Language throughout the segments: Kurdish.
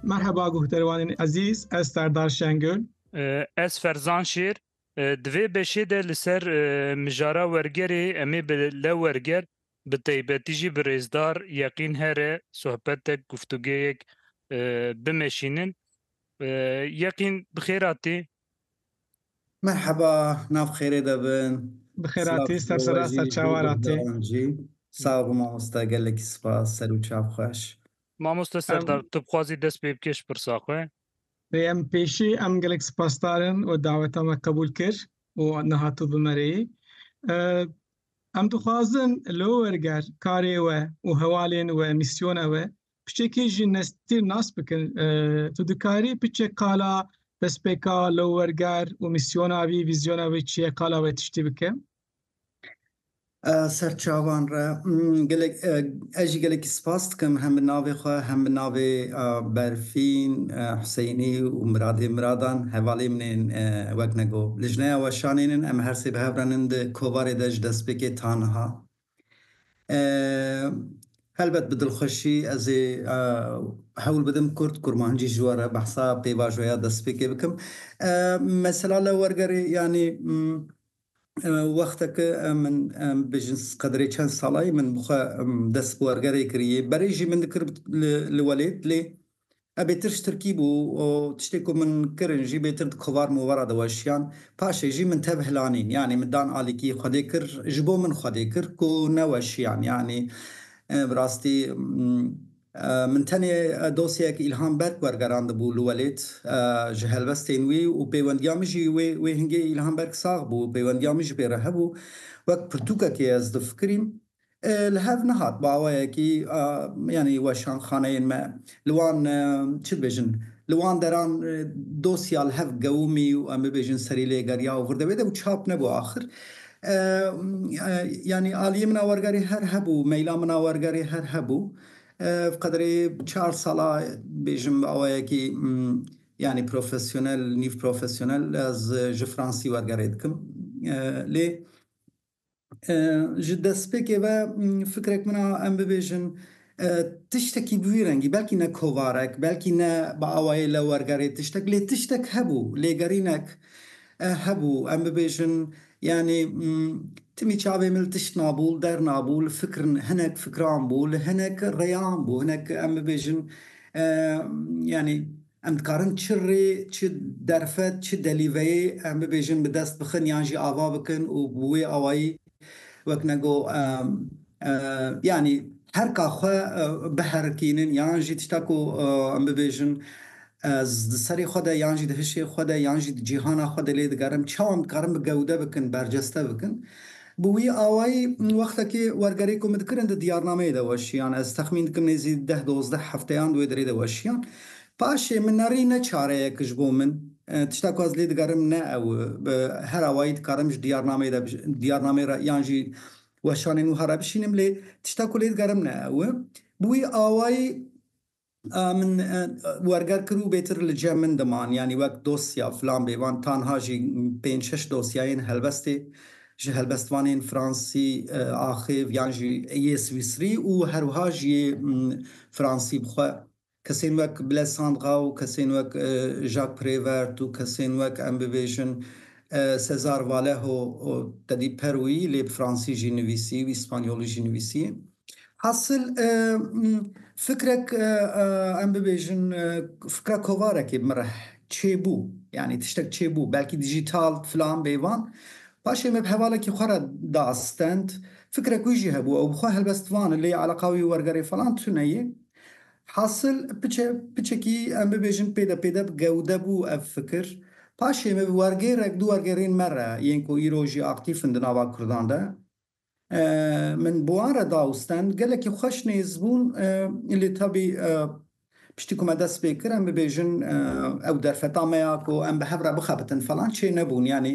Merheba guhdarwanên ezîz, ez Serdar Şengül. Ez Ferzan Şêr. Di vê beşê de li ser mijara wergerê em ê bi lew werger bi taybetî jî bi rêzdar Yeqîn Here sohbetek guftûgeyek bimeşînin. Yeqîn bi xêr hatî. Merheba, nav xêrê de bin. Bi xêratî, ser sera ser çawa ra tê? Sağ bi mamoste, gelekî spas, ser û çav xweş. Mamoste Serdar, tu bixwazî dest pê bikê ji pirsa xwe? Rê em pêşî em gelek sipasdar in we daweta me qebûl kir û niha tu bi me re yî. Em dixwazin li wer ger karê we û hewalên we, mîsyona we piçekê jî nestîr nas bikin tu dikarî piçe qala destpêka lewwerger û mîsyona wî vîzyona wê çi ye qala wê tiştî bike serçavan re gelek ez jî gelekî spas dikim hem bi navê xwe hem bi navê berfîn Huseyinî û miradê miradan hevalê min ên wek nego li jineya weşanên em her sê bi hev re nin di kovarê de ji destpêkê taniha Helbet bi dilxweşî ez ê hewl bidim kurd kurmancî ji we re behsa pêvajoya destpêkê bikim. Mesela li wergerê yanî wexteke min bêjin qedirê çend salayî min bi xwe dest bi wergerê kirî yê. Berê jî min dikir li welêt lê Ev bêtir ji tirkî bû û tiştê ku min kirin jî bêtir di kovar movar a diweşiyan. Paşê jî min tev hilanîn yanî min dan alîkî Xwedê kir ji bo min Xwedê kir ku neweşiyan yanî bi rastî min tenê dosyeyek Îlhan Berk wergerandibû li welêt ji helbestên wî û pêwendiya min jî wê wê hingê Îlhan Berk sax bû pêwendiya min jî pê re hebû wek pirtûkekê ez difikirîm Li hev nehat baweyekî yanî weşanxaneyên me li wan çi dibêjin, li wan deran dosya li hev gewimî û em bibêjin serî lê geriya û vir de wê de û çap nebû axir. Yanî aliyê min a wergerê her hebû, meyla min a wergerê her hebû. Ev qederê çar sal a bêjim baweyekî yanî profesyonel, nîv profesyonel ez ji Fransî wergerê dikim. Lê Ji destpêkê ve fikrek min a em bibêjin tiştekî bi vî rengî belkî ne kovarek belkî ne bi awayê lewwergerê tiştek lê tiştek hebû lêgerînek hebû em bibêjin yanî timî çavê min li tişt nabû li der nabû li fikr hinek fikran bû li hinek rêyan bû hinek em bibêjin yanî Em dikarin çi rê, çi derfet, çi delîveyê em bibêjin bi dest bixin yan jî ava bikin û bi wê awayî wek me got yanî her ka xwe biherikînin yan jî tişta ku em bibêjin di serê xwe de yan jî di hişê xwe de yan jî di cîhana xwe de lê digerin. Çawa em dikarin bi gewde bikin, berceste bikin? Bi wî awayî wextekê wergerê ku min dikirin di diyarnameyê de weşiyan. Ez texmîn dikim nêzî deh dozdeh hefteyan di wê derê de weşiyan. Paşê min ne rî ne çare ye ku ji bo min tişta ku ez lê digerim ne ew e. Bi her awayî dikarim ji diyarnameyê de diyarnameyê re yan jî weşanên wiha re bişînim lê tişta ku lê digerim ne ew e. Bi wî awayî Min werger kir û bêtir li cem min diman, yanî wek dosya filan bê, van tanha jî pênc şeş dosyayên helbestê ji helbestvanên fransî, axêv yan jî yê swîsrî û herwiha jî yê fransî bi xwe kesên wek Blaise Sandra û kesên wek Jacques Prévert û kesên wek em bibêjin César Vallejo tedî per wî lê bi fransî jî nivîsî wî spanyolî jî nivîsî. Hasil fikrek em bibêjin fikra kovarekê bi min re çêbû yanî tiştek çêbû belkî dijital filan bêvan paşê me bi hevalekî xwe re diastend fikrek wî jî hebû ew bi xwe helbest van lê eleqa wî wergerê filan tune yê hasil piçe piçekî em bibêjin pêde pêde bi gewde bû ev fikir paşê me bi wergêrek du wergêrên me re yên ku îro jî aktîf in di nava kurdan de Min bi wan re da û stend. Gelekî xweş nêz bûn. Lê tevî piştî ku me dest pê kir em bibêjin ew derfeta me ya ku em bi hev re bixebitin falan çê nebûn. Yanî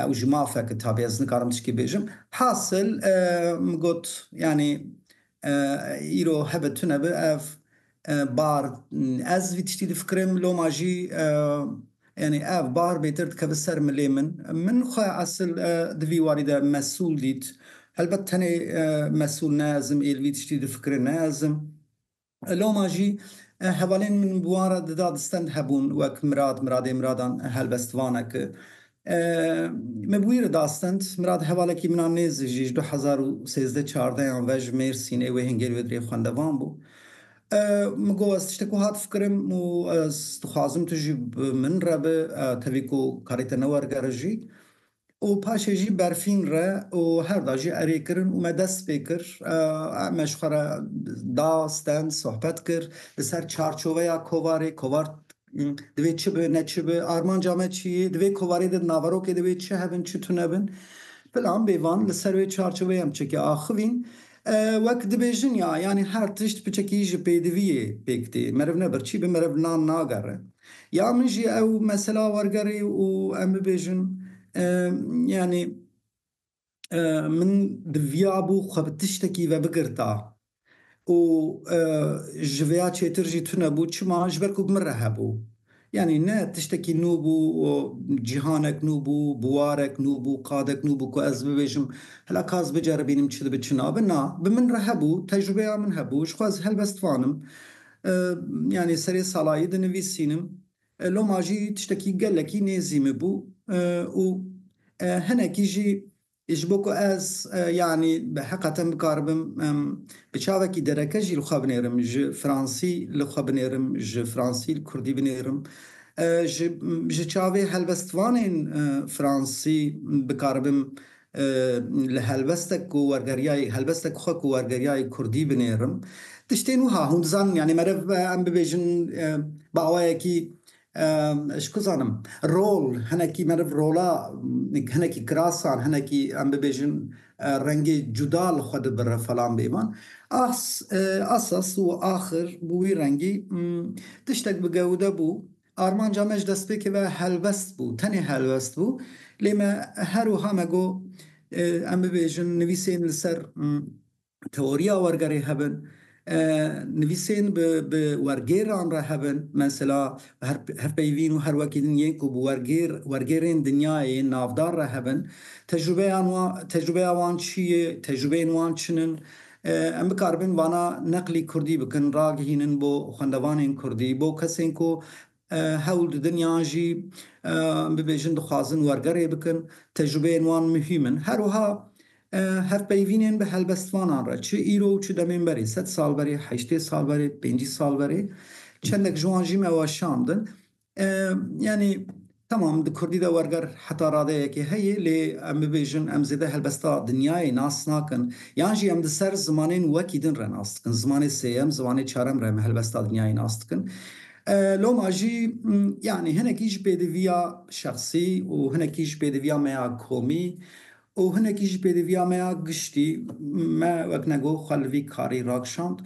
ew ji maf e ku tevî ez nikarim tiştî bêjim. Hasil min got yanî îro hebe tune bi ev Bahar, Ez vî tiştî difikirim, loma jî yanî ev bahar bêtir dikeve ser milê min. Min xwe esil di vî warî de mesûl dît. Helbet tenê mesûl ne ez im ê li vî tiştî difikire ne ez im. Loma jî hevalên min bi wan re di da di stend hebûn wek Mirad, Miradê Miradan helbestvanek. Me bi wî re da stend. Mirad hevalekî min a nêzik jî ji du hezar û sêzdeh çardehan ve ji Mêrsînê wê hin gel wê dirê xwendevan bû. Min got ez tiştek wiha difikirim û ez dixwazim tu jî bi min re bi, tevî ku karê te newergere jî. Û paşê jî berfîn re û her da jî erê kirin û me dest pê kir. Me ji xwe re da stend, sohbet kir. Li ser çarçoveya kovarê, kovar Divê çi bi, ne çi bi, armanca me çi yê, divê kovarê de di naverokê de wê çi hebin, çi tune bin. Plan bê van li ser wê çarçoveyê em çekê axivîn. Wek dibêjin ya yanî her tişt piçekî ji pêdivî yê pêk tê. Meriv ne birçî bi meriv nan nagere. Ya min jî ew mesela wergerê û em bibêjin yanî min diviyabû xwe bi tiştekî ve bigirta û ji vê ya çêtir jî tunebû. Çima? Ji ber ku bi min re hebû. Yanî ne tiştekî nû bû, cîhanek nû bû, buwarek nû bû, qadek nû bû ku ez bibêjim hela ka ez biceribînim çi dibe çi nabe. Na, bi min re hebû, tecrûbeya min hebû, jixwe ez helbestvanim. Yanî serê salayî dinivîsînim, Loma jî tiştekî gelekî nêzî min bû û hinekî jî ji bo ku ez yanî heqeten bikaribim bi çavekî dereke jî li xwe binêrim, ji fransî li xwe binêrim, ji fransî li kurdî binêrim, ji çavê helbestvanên fransî bikaribim Li helbestek ku wergeriyayê helbestek xwe ku wergeriyayê kurdî binêrim tiştên wiha hûn dizanin yanî meriv em bibêjin bi awayekî ji ku zanim rol hinekî meriv rola hinekî kirasan hinekî em bibêjin rengê cuda li xwe dibire falan bêvan as asas û axir bi wî rengî tiştek bi gewide bû. Armanca me ji destpêkê ve helbest bû, tenê helbest bû, lê me her wiha me got em bibêjin nivîsên li ser teoriya wergerê hebin, nivîsên bi wergêran re hebin, mesela her peyvîn û her wekî din yên ku bi wergêr, wergêrên dinyayê yên navdar re hebin, tecrûbeyan wan, tecrûbeya wan çi ye, tecrûbeyên wan çin in, Em bikaribin vana neqlî kurdî bikin, ragihînin bo xwendevanên kurdî, bo kesên ku hewl didin yan jî bibêjin dixwazin wergerê bikin, tecrûbeyên wan muhîm in. Her wiha hevpeyvînên bi helbestvanan re, çi îro û çi demên berê, sed sal berê, heştê sal berê, pêncî sal berê, çendek ji wan jî me weşandin. Yanî temam di kurdî de werger heta radeyekê heye lê em bibêjin em zêde helbesta dinyayê nas nakin yan jî em di ser zimanên wekî din re nas dikin. Zimanê sêyem, zimanê çarem re em helbesta dinyayê nas dikin. Loma jî yanî hinekî ji pêdiviya şexsî û hinekî ji pêdiviya me ya komî Û hinekî jî pêdiviya me ya giştî, me wek nego xwe li vî karî rakişand.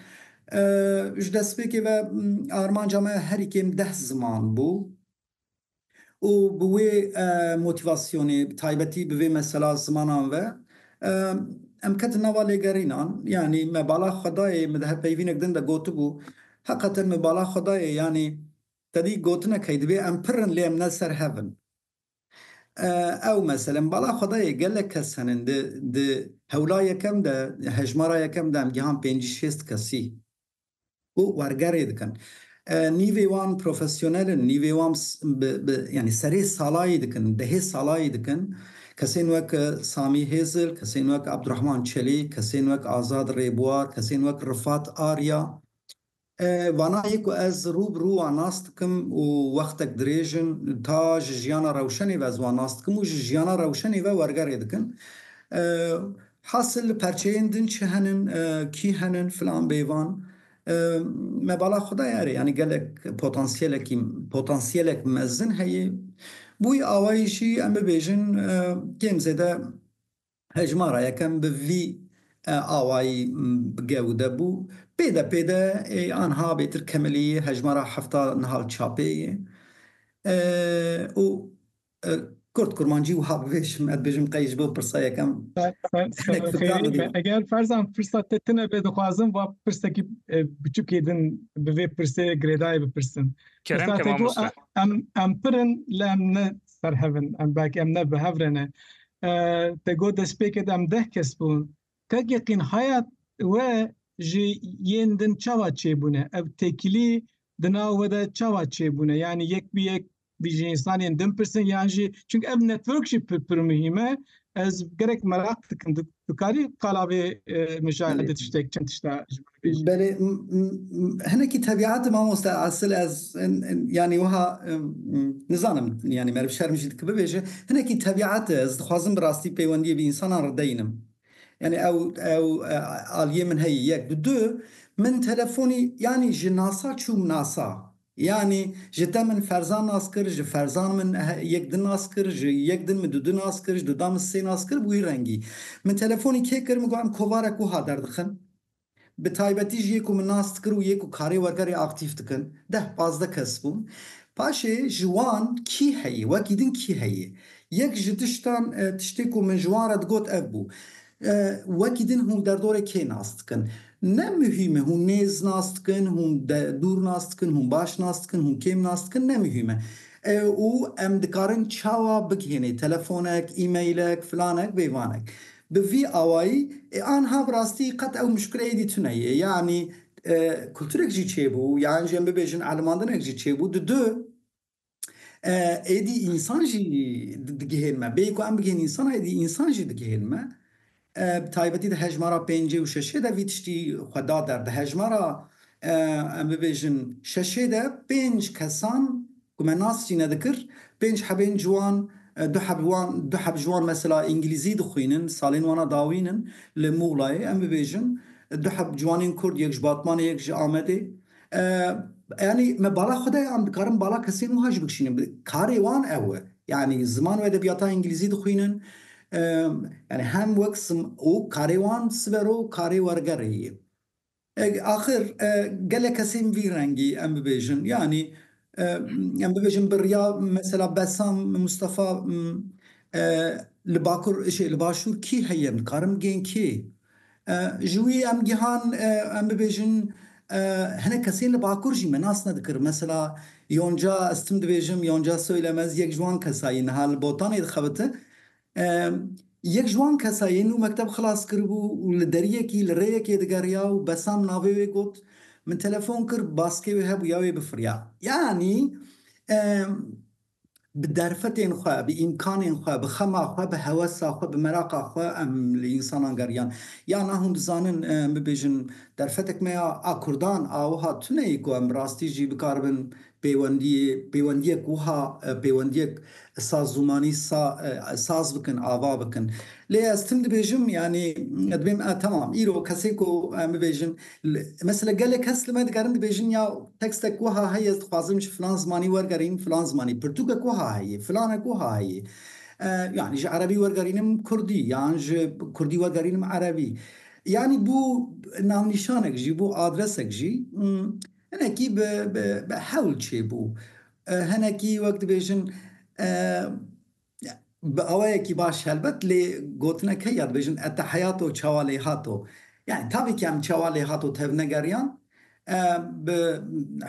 Ji destpêkê ve armanca me herî kêm deh ziman bû û bi wê motîvasyonê, bi taybetî bi vê mesela zimanan ve em ketin nava lêgerînan. Yanî me bala xwe dayê, min dihe peyvînek din de gotibû, heqeten min bala xwe dayê, yanî tedî gotinek heye, divê em pir in lê em ne li ser hev in. Ew meselem bala xwedayê gelek kes henin di di hewla yekem de hejmara yekem de em gihan pêncî şêst kesî ku wergerê dikin. Nîvê wan profesyonel in, nîvê wan bi bi yanî serê salayî dikin, dehê salayî dikin. Kesên wek Samî Hêzil, kesên wek Abdurehman Çelîk, kesên wek Azad Rêbuwar, kesên wek Rifat Arya, Vana yê ku ez rû bi rû wan nas dikim û wextek dirêj in ta ji jiyana rewşenê ve ez wan nas dikim û ji jiyana rewşenê ve wergerê dikin. Hasil li perçeyên din çi henin, kî henin filan bêvan me bala xwe daye erê yanî gelek potansiyelekî potansiyelek mezin heye. Bi wî awayî jî em bibêjin kêm zêde Hejmara yekem bi vî awayî gew de bû. Pê de pê de anha bêtir kemelîyî hejmara hefta nihal çapê yê. Û kurt kurmancî wiha bibêjim, ez dibêjim qey ji bo pirsa yekem hinek fikran bidîm. Eger ferzan pirsa te tune be dixwazim va pirsekî biçûkê din bi vê pirsê girêdayî bipirsim. Kerem ke mamoste. Em pir in lê em ne ser hevin em belkî em ne bi hev re ne te got destpêkê de em deh kes bûn tek yeqîn haya we ji yên din çawa çêbûne ev têkilî di nav we de çawa çêbûne yanî yek bi yek ji însanên din pirsin yan jî çünkü ev network jî pir pir muhîm e ez gerek meraq dikim Tu karî qala vê mijara de tiştek çend tişta ji min bêjî. Belê hinekî tebîetê mamoste Asil ez yanî wiha nizanim yanî meriv şerm jî dike bibêje. Hinekî tebîetê ez dixwazim bi rastî peywendiyê bi însanan re deyînim. Yanî ew ew aliyê min heye yek. Bi du min telefonî yanî ji nasa çûm nasa. Yanî ji te min ferzan nas kir, ji ferzan min yek din nas kir, ji yek din min dudu nas kir, ji dudan min sê nas kir û wî rengî. Min telefonî kê kir, min got em kovarek wiha derdixin, bi taybetî jî yê ku min nas dikir û yê ku karê wergerê aktîf dikin, deh pazdeh kes bûn. Paşê ji wan kî heye, wekî din kî heye? Yek ji tiştan, tiştê ku min ji wan re digot ev bû. Wekî din hûn derdorê kê nas dikin? Ne muhîm e hûn nêz nas dikin, hûn dûr nas dikin, hûn baş nas dikin, hûn kêm nas dikin ne muhîm e. Û em dikarin çawa bigihênê telefonek, emailek, filanek vê vanek. Bi vî awayî ê anha bi rastî qet ew muşkileyê dîtune yê. Yanî kulturek jî çêbû, yan jî em bibêjin elimandinek jî çêbû di du. êdî însan jî digihên me bêyî ku em bigihên însan êdî însan jî digihên me bi taybetî di hejmara pêncê û şeşê de vî tiştî xwe da der di hejmara em bibêjin şeşê de pênc kesan ku me nas jî nedikir pênc hebên ciwan du heb wan du heb ji wan mesela îngilîzî dixwînin salên wana dawîn in li Muxlayê em bibêjin du heb ciwanên kurd yek ji batmanê yek ji amedê Yanî me bala xwe de ye an dikarin bala kesên wiha jî bikişînin? Karê wan ew e. Yanî ziman û edebiyata îngilîzî dixwînin. Yanî hem wek û karê wan siber o û karê wergerê ye. Axir gelek kesên vî rengî em bibêjin yanî em bibêjin bi riya mesela Besam Mustafa li bakur li başûr kî heye? Em dikarin bigêin kê? Ji wî em gihan em bibêjin hinek kesên li Bakur jî me nas nedikir. Mesela Yonca ez tim dibêjim, Yonca Söylemez yek ji wan kesa ye niha li Botanê dixebite. Yek ji wan kesa ye nû mekteb xilas kiribû û li deriyekî li rêyekê digeriya û Besam navê wê got. Min telefon kir baskê wê hebûya wê bifiriya. Yanî. Bi derfetên xwe, bi îmkanên xwe, bi xema xwe, bi hewesa xwe, bi meraqa xwe em li însanan geriyan. Ya na hûn dizanin em bibêjin derfetek me ya a Kurdan a wiha tune ye ku em bi rastî jî bikaribin pêwendiyê pêwendiyek wiha pêwendiyek sa zûmanî sa saz bikin, ava bikin. Lê ez tim dibêjim yanî dibêm e temam îro kesê ku em bibêjin Mesela gelek kes li me dikarin dibêjin ya tekstek wiha heye ez dixwazim ji filan zimanî wergerînim filan zimanî, pirtûkek wiha heye, filanek wiha heye. Yanî ji erebî wergerînim kurdî yan ji kurdî wergerînim erebî. Yanî bû navnîşanek jî, bû adresek jî hinekî bi hewl çêbû. Hinekî wek dibêjin. Bi awayekî baş helbet lê gotinek heye dibêjin ete heyato çawa lê hato. Yanî tavî ke em çawa lê hato tevnegeriyan bi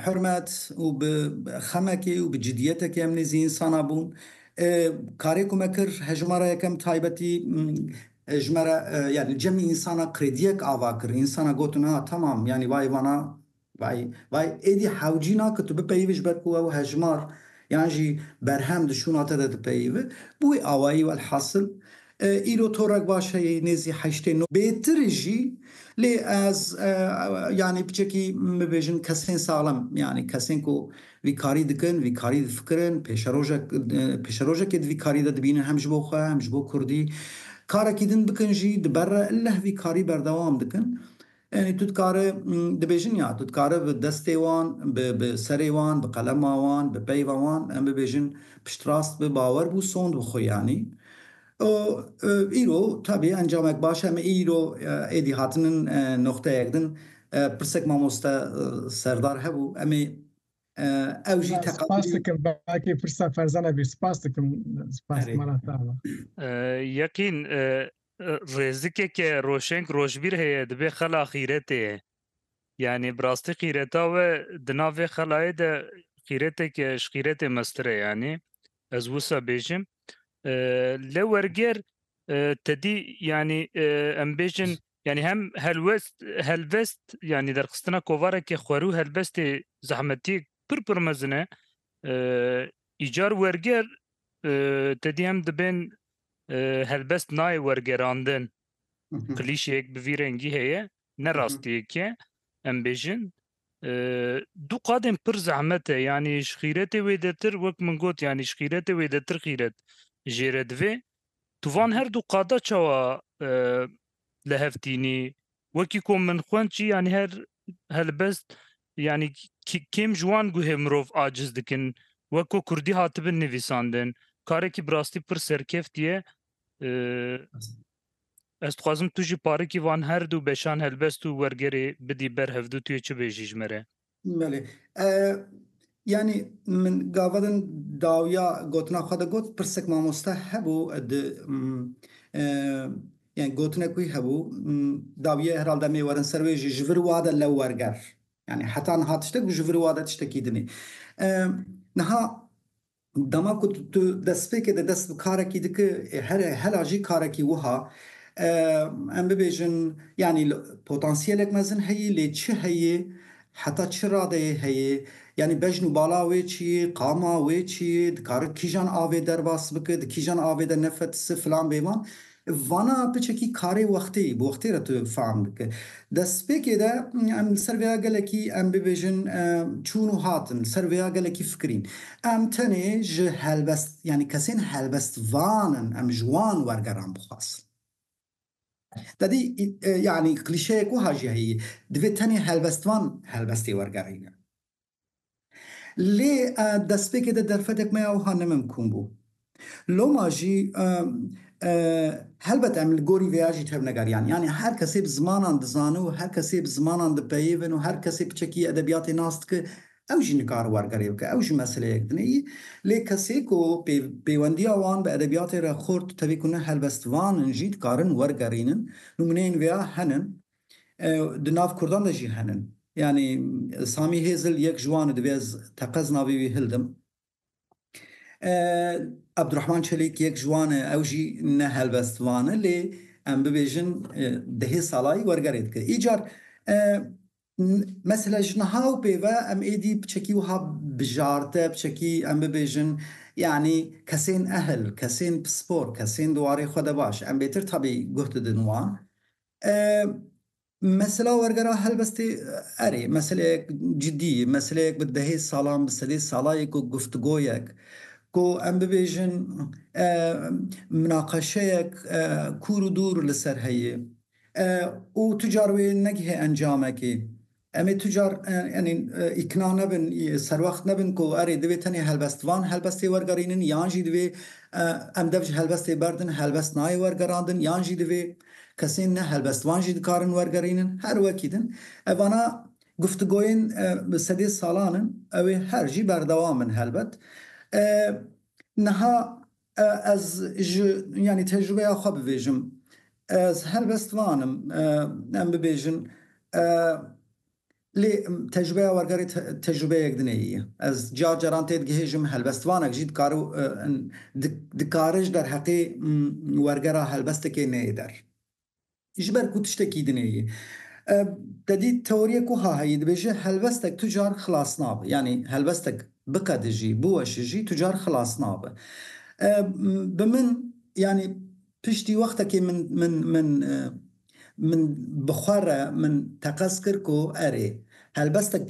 hurmet û bi xemekê û bi cidîyetekê em nêzî însanan bûn. Karê ku me kir hejmara yekem taybetî ji me re yanî cemî însanan krêdîyek ava kir. Însanan gotin ha tamam yanî bayê vana Vay, vay, êdî hewcî na ke tu bipeyivî ji ber ku ew hejmar yan jî berhem di şûna te de dipeyive, bi wî awayî welhasil îro torek baş heye nêzî heştê no bêtir e jî lê ez yanî piçekî bibêjin kesên saxlem yanî kesên ku vî karî dikin, vî karî difikirin, pêşerojek pêşerojekê di vî karî de dibînin hem ji bo xwe hem ji bo kurdî karekî din bikin jî di ber re illeh vî karî berdewam dikin. Yanî tu dikare dibêjin ya tu dikare bi destê wan, bi serê wan, bi qelema wan, bi peyva wan em bibêjin piştrast bi, bawer bû, sond bi xwe yanî. Û îro tabî encamek baş em îro êdî hatinin noqteyek din. Pirsek mamoste Serdar hebû em ê ew jî teqabûlî. Spas dikim belkî pirsa ferza nebî. Spas dikim. Spas mala te. Yeqîn Rêzikeke roşeng rojbîr heye dibe xela xîretê ye. Yanî bi rastî xîreta we di nav vê xelayê de xîreteke ji xîretê meztir e yanî ez wisa bêjim. Li werger tedî yanî em bêjin yanî hem helwest helbest yanî derxistina kovarekê xwerû helbestê zehmetî pir pir mezin e. Îcar werger tedî hem dibên helbest nayê wergerandin. Klîşeyek bi vî rengî heye, ne rastiyek e. Em bêjin du qadên pir zehmet e yanî ji xîretê wêdetir wek min got yanî ji xîretê wêdetir xîret jêre divê. Tu van her du qada çawa li hev tînî wekî ku min xwend jî yanî her helbest yanî kêm ji wan guhê mirov aciz dikin wek ku kurdî hatibin nivîsandin karekî bi rastî pir serkeftî ye ez dixwazim tu jî parikî van her du beşan helbest û wergerê bidî ber hevdu tu yê çi bêjî ji me re? Belê. Yanî min gava din dawiya gotina xwe de got pirsek mamoste hebû di yani gotinek wî hebû dawiye herhal demê werin ser wê jî ji vir wa de lew werger. Yani heta niha tiştek û ji vir wa de tiştekî dinê. Niha Dema ku tu destpêkê de dest bi karekî dikî here hela jî karekî wiha em bibêjin yanî potansiyelek mezin heyî lê çi heyî heta çi radeyê heyî yanî bejn û bala wê çi yî qama wê çi yî dikari kîjan avê derbas biki di kîjan avê de nefetisi filan bêvan Vana piçekî karê wextê bi wextê re tu fehm dike. Destpêkê de em li ser vêya gelekî em bibêjin çûn û hatin, li ser vêya gelekî fikirîn. Em tenê ji helbest yanî kesên helbestvan in, em ji wan wergeran bixwazin. Tedî yanî klîşeyek wiha jî heye, divê tenê helbestvan helbestê wergerîne. Lê destpêkê de derfetek me ya wiha nemimkûn bû. Loma jî helbet em li gorî vê ya jî tevnegeriyan. Yanî her kesê bi zimanan dizane û her kesê bi zimanan dipeyivin û her kesê piçekî edebiyatê nas dike, ew jî nikare wergerê bike, ew jî meseleyek din e. Lê kesê ku pêwendiya wan bi edebiyatê re xurt, tevî ku ne helbestvan in jî dikarin wergerînin. Nûmûneyên vê ya henin. Di nav kurdan de jî henin. Yanî Samî Hêzil yek ji wan e divê ez teqez navê wî hildim. Ebdurehman Çelîk yek ji wan e ew jî ne helbest van e lê em bibêjin dehê salayî wergerê dike. Îcar mesela ji niha û pê ve em êdî piçekî wiha bijarte piçekî em bibêjin yanî kesên ehil, kesên pispor, kesên di warê xwe de baş em bêtir tabî guh didin wan. Mesela wergera helbestê erê meseleyek cidî, meseleyek bi dehê salan, bi sedê salayê ku guftugoyek, ku em bibêjin minaqeşeyek kûr û dûr li ser heye û tu car wê negihê encamekê. Em ê tu car yanî îkna nebin, serwext nebin ku erê divê tenê helbest van helbestê wergerînin yan jî divê em dev ji helbestê berdin, helbest nayê wergerandin yan jî divê kesên ne helbest van jî dikarin wergerînin. Her wekî din evana guftugoyên bi sedê salan in, ew ê her jî berdewam bin helbet. Niha Ez ji yanî tecrûbeya xwe bibêjim. Ez helbest van im em bibêjin. Lê tecrûbeya wergerê tecrûbeyek din ye. Ez car caran tê digihêjim, helbestvanek jî dikare û dikare ji derheqê wergera helbestekê neyê der. Ji ber ku tiştekî dinê yê. Te dît teoriyek wiha heye dibêje helbestek tu car xilas nabe. Yanî helbestek biqede jî, biweşe jî tu car xilas nabe. Bi min yanî piştî wextekê min min min min bi xwe re min teqez kir ku erê helbestek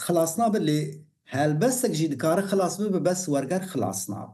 xilas nabe lê helbestek jî dikare xilas bibe bes werger xilas nabe.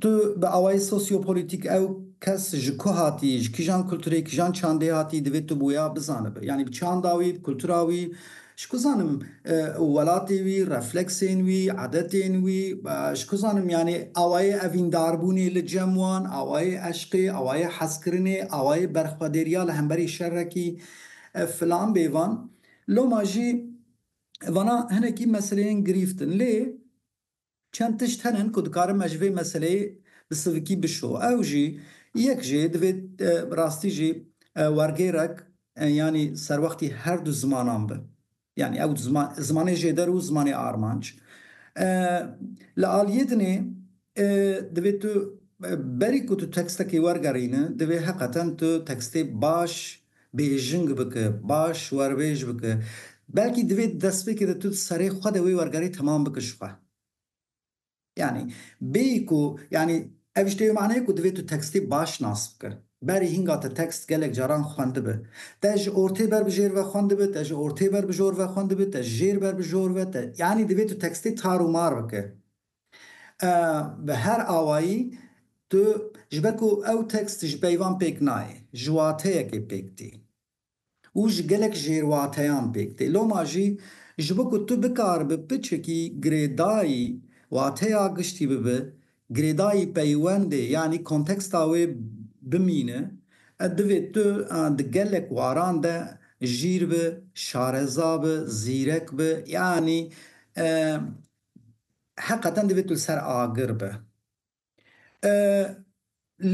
Tu bi awayê sosyopolîtîk ew kes ji ku hatî, ji kîjan kulturê, kîjan çandê hatî divê tu boya bizanibi. Yanî bi çanda wî, bi kultura wî, ji ku zanim welatê wî, refleksên wî, edetên wî, ji ku zanim yanî awayê evîndarbûnê li cem wan, awayê eşqê, awayê hezkirinê, awayê berxwedêriya li hemberî şerekî filan bê van. Loma jî vana hinekî meseleyên girîft in. Lê Çend tişt hene ku dikarin me ji vê meseleyê bi sivikî bişo. Ew jî, yek jî divê bi rastî jî wergêrek yanî serwextî her du zimanan bi. Yanî ew zimanê jêder û zimanê armanc. Li aliyê din ê divê tu berî ku tu tekstekê wergerîne divê heqeten tu tekstê baş bêjing bike, baş werbêj bike. Belkî divê di destpêkê de tu di serê xwe de wê wergerê temam bike ji xwe. Yanî bêyî ku yanî ev ji tê maneyê ku divê tu tekstê baş nas bike. Berî hînga te tekst gelek caran xwendibe. Te ji ortê ber bi jêr ve xwendibe, te ji ortê ber bi jor ve xwendibe, te ji jêr ber bi jor ve, te yanî divê tu tekstê tar û mar bike. Bi her awayî tu ji ber ku ew tekst ji peyvan pêk nayê, ji wateyekê pêk tê û ji gelek jêrwateyan pêk tê. Loma jî ji bo ku tu bikar bi piçikî girêdayî wateya giştî bibe, girêdayî peywendê yanî konteksta wê bimîne, divê tu di gelek waran de jîr bi, şareza bi, zîrek bi yanî heqeten divê tu li ser agir bi.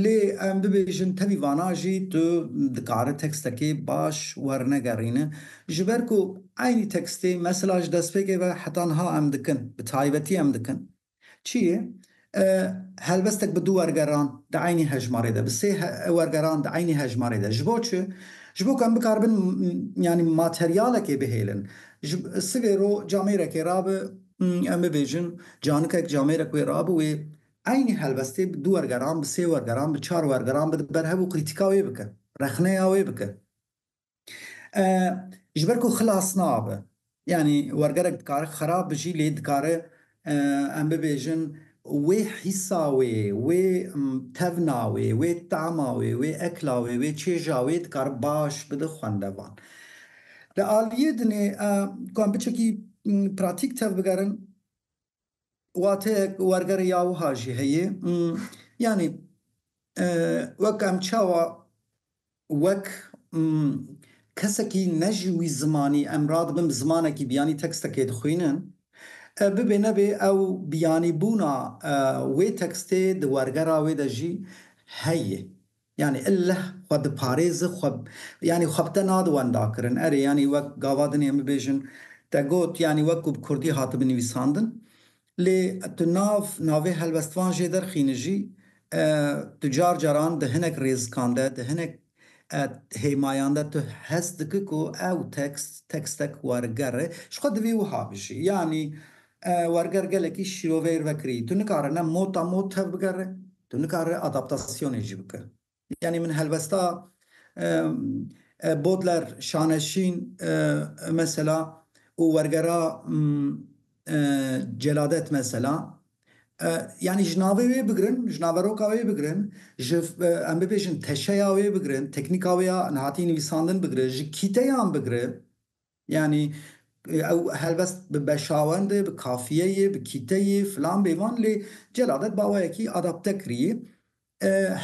Lê em bibêjin tevî vana jî tu dikare tekstekê baş wernegerîne. Ji ber ku eynî tekstê mesela ji destpêkê ve heta niha em dikin, bi taybetî em dikin. Çi yê? Helbestek bi du wergeran di eynî hejmarê de, bi sê wergeran di eynî hejmarê de. Ji bo çi? Ji bo ku em bikaribin yanî materyalekê bihêlin. Sivê ro camêrekê rabi em bibêjin canikek camêrek wê rabi wê eynî helbestê bi du wergeran, bi sê wergeran, bi çar wergeran bide ber hev û krîtîka wê bike, rexneya wê bike. Ji ber ku xilas nabe. Yanî wergerek dikare xerab bi jî lê dikare em bibêjin wê hîsa wê, wê tevna wê, wê tama wê, wê ekla wê, wê çêja wê dikare baş bide xwendevan. Di aliyê din ê ku em biçekî pratîk tevbigerin, Wateyek wergerê ya wiha jî heye, yanî wek em çawa wek kesekî ne ji wî zimanî em radibin bi zimanekî biyanî tekstekê dixwînin, bibê nebê ew biyanîbûna wê tekstê di wergera wê de jî heye. Yanî illeh xwe diparêzi xwe yanî xwe bi te nadi wendakirin. Erê yanî wek gava din ê min bêjin te got yanî wek ku bi kurdî hatibi nivîsandin lê tu nav navê helwestvan jê derxîni jî tu car caran di hinek rêzikan de di hinek hêmayan de tu hest diki ku ew tekst tekstek werger e. Ji xwe divê wiha bijî yanî werger gelekî şîroveyr vekirî. Tu nikare ne mota mot tevbigere. Tu nikare adaptasyonê jî bike. Yanî min helwesta Bodler, Şaneşîn mesela û wergera Celadet mesela yanî ji navê wê bigirin, ji naveroka wê bigirin, ji em bibêjin teşeya wê bigirin, teknîka wê ya hatî nivîsandin bigire, ji kîteyan bigire. Yanî ew helbest bi beşawende, bi kafiyeyê, bi kîteyê filan bê van lê Celadet baweyekî adapte kirîyê.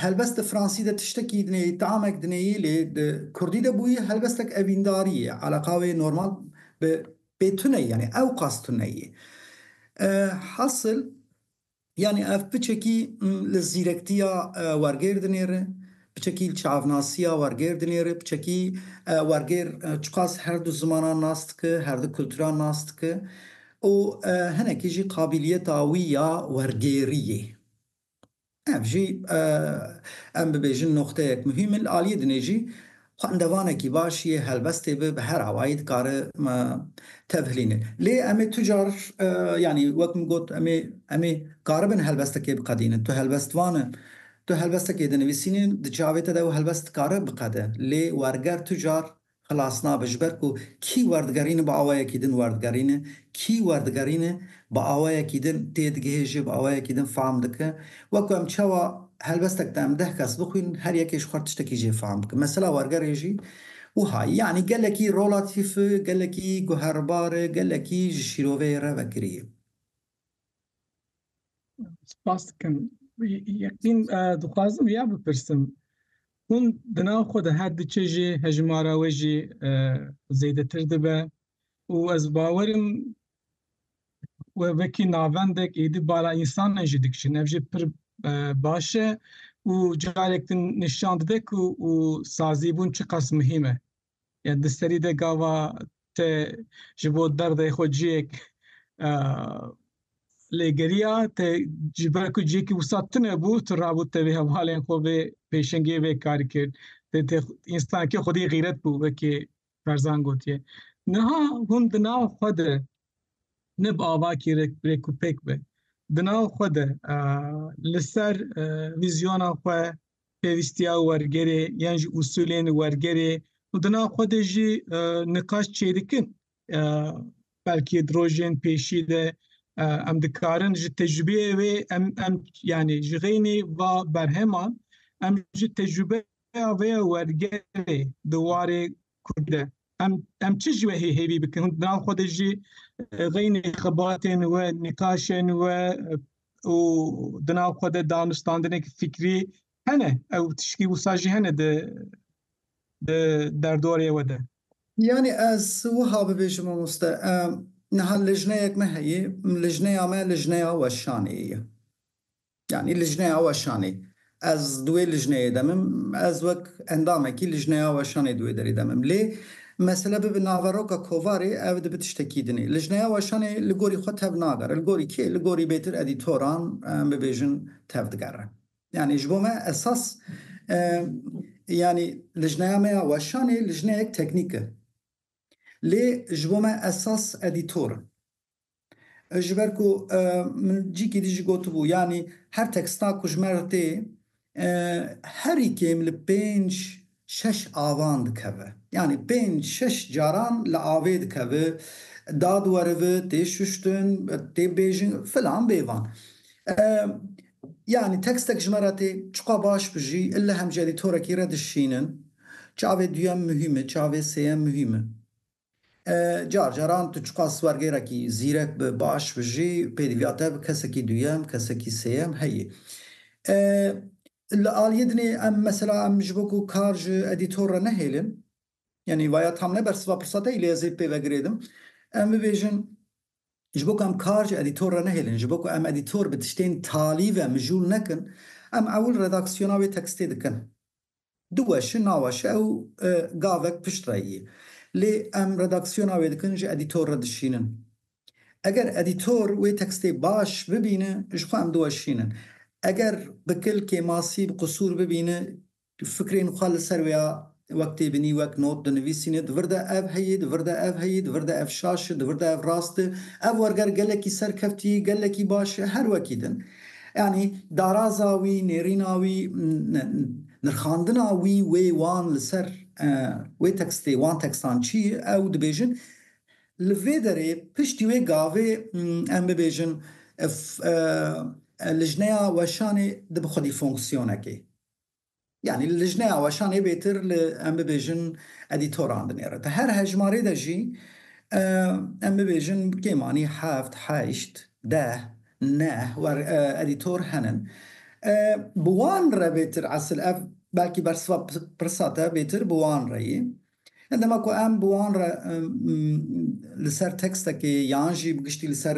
Helbest di fransî de tiştekî dinêyî, taamek dinêyî lê di kurdî de bûyî helbestek evîndarî ye. Eleqa wê normal bi bê tune yanî ewqas tune yê. Hasil Yanî ev piçekî li zîrektiya wergêr dinêre, piçekî li çavnasiya wergêr dinêre, piçekî wergêr çiqas her du zimanan nas dike, her du kulturan nas dike û hinekî jî qabîliyeta wî ya wergêrî yê. Ev jî em bibêjin noqteyek muhîm e. Li aliyê dinê jî Xwendevanekî baş yê helbestê be bi her awayî dikare me tevhilîne. Lê em ê tu car yanî wek min got em ê em ê karibin helbestekê biqedînin. Tu helbestvan e. Tu helbestekê dinivîsînî di çavê te de ew helbest dikare biqede. Lê werger tu car xilas nabe ji ber ku kî werdigerîne bi awayekî din werdigerîne, kî werdigerîne bi awayekî din tê digihêje, bi awayekî din fam dike. Wek ku em çawa helbestek de em deh kes bixwînin, her yekê ji xwe re tiştekî jê fam bike. Mesela wergerê jî wiha ye. Yanî gelekî rolatîf e, gelekî guherbar e, gelekî ji şîroveyê re vekirî ye. Spas dikim. Yeqîn dixwazim vêya bipirsim, Hûn di nav xwe de her diçe jê hejmara we jî zêdetir dibe û ez bawerim We wekî navendek êdî bala însanan jî dikişin. Ev jî pir baş e û carek din nîşan dide ku û sazîbûn çiqas muhîm e. Yani di serî de gava te ji bo derdê xwe ciyek lêgeriya te ji ber ku ciyekî wisa tune bû tu rabû te vê hevalên xwe vê pêşengê vê karî kir. Te te însanekî xwedî xîret bû wekî Barzan gotiye, Niha hûn di nav xwe de ne bi avakî rêk û pêk be, di nav xwe de li ser vîzyona xwe, pêwîstiya wergerê yan jî usûlên wergerê û di nav xwe de jî niqaş çêdikin. Belkî di rojên pêşî de em dikarin ji tecrûbeyê wê em em yanî ji xeynî va berheman em ji tecrûbe rêya vê wergerê di warê Kurdî de em em çi ji we hê hêvî bikin hûn di nav xwe de jî xeynê xebatên we nîqaşên we û di nav xwe de danûstandineke fikrî hene ew tişkî wisa jî hene di di derdorê we de. Yanî ez wiha bibêjim mamoste niha lijneyek me heye, lijneya me lijneya weşanê ye. Yanî Lijneya Weşanê. Ez di wê lijneyê de mim, ez wek endamekî Lijneya Weşanê di wê derê de mim. Lê mesele bibe naveroka kovarê ev dibe tiştekî din e. Lijneya Weşanê li gorî xwe tev nagere. Li gorî kê? Li gorî bêtir edîtoran em bibêjin tev digere. Yanî ji bo me esas yanî Lijneya me ya Weşanê lijneyek teknîk e. Lê ji bo me esas edîtor in. Ji ber ku min cîkî dî jî gotibû yanî her teksta ku ji me re tê herî kêm li pênc şeş avan dikeve. Yanî pênc şeş caran li avê dikeve, da diwerive, tê şuştin, tê bêjin filan bê van. Yanî tekstek ji me re tê çiqas baş bi jî li hemjî edîtorekî re dişînin çavê duyem muhîm e, çavê sêyem muhîm e. Car caran tu çiqas wergêrekî zîrek bi, baş bi jî pêdiviya te bi kesekî duyem, kesekî sêyem heye. Li aliyê din ê em mesela em ji bo ku kar ji edîtor re nehêlin, yanî vaya tam ne bersiva pirsa te yî lê ez ê pê vegirêdim, em bibêjin ji bo ku em kar ji edîtor re nehêlin, ji bo ku em edîtor bi tiştên talî ve mijûl nekin, em ewil redaksiyona wê tekstê dikin. Du weşi naweşi ew gavek pişt re yî. Lê em redaksiyona wê dikin ji edîtor re dişînin. Eger edîtor wê tekstê baş bibîne ji xwe em diweşînin. Eger bi kil, kêmasî, bi qusûr bibîne fikrên xwe li ser wêya wek tê binî, wek not dinivîsîne di vir de ev heye, di vir de ev heye, di vir de ev şaş e, di vir de ev rast e, ev werger gelekî serkevtî, gelekî baş e, her wekî din. Yanî daraza wî, nêrîna wî, nirxandina wî, wê, wan li ser wê tekstê, wan tekstan çi ye? Ew dibêjin li vê derê piştî wê gavê em bibêjin lijneya weşanê di bi xwedî fonksiyonekê. Yanî li lijneya weşanê bêtir li em bibêjin edîtoran dinêre. Di her hejmarê de jî em bibêjin kêm anî heft, heşt, deh, neh wer edîtor henin. Bi wan re bêtir esil ev belkî bersiva pirsa te bêtir bi wan re yî. Hin dema ku em bi wan re li ser tekstekê yan jî bi giştî li ser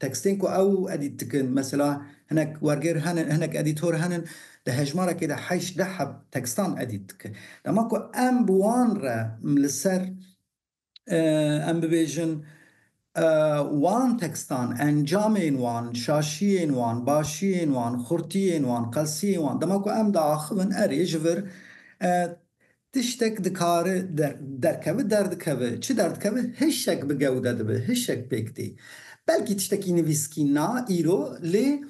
tekstên ku ew edît dikin, mesela hinek wergêr henin, hinek edîtor henin, di hejmarekê de heşt deh heb tekstan edît dikin. Dema ku em bi wan re li ser em bibêjin, Wan tekstan, encamên wan, şaşiyên wan, başiyên wan, xurtiyên wan, qelsiyên wan dema ku em diaxivin erê ji vir tiştek dikare derkeve derdikeve. Çi derdikeve? Hişek bi gewde dibe, hişek pêk tê. Belkî tiştekî nivîskî na îro lê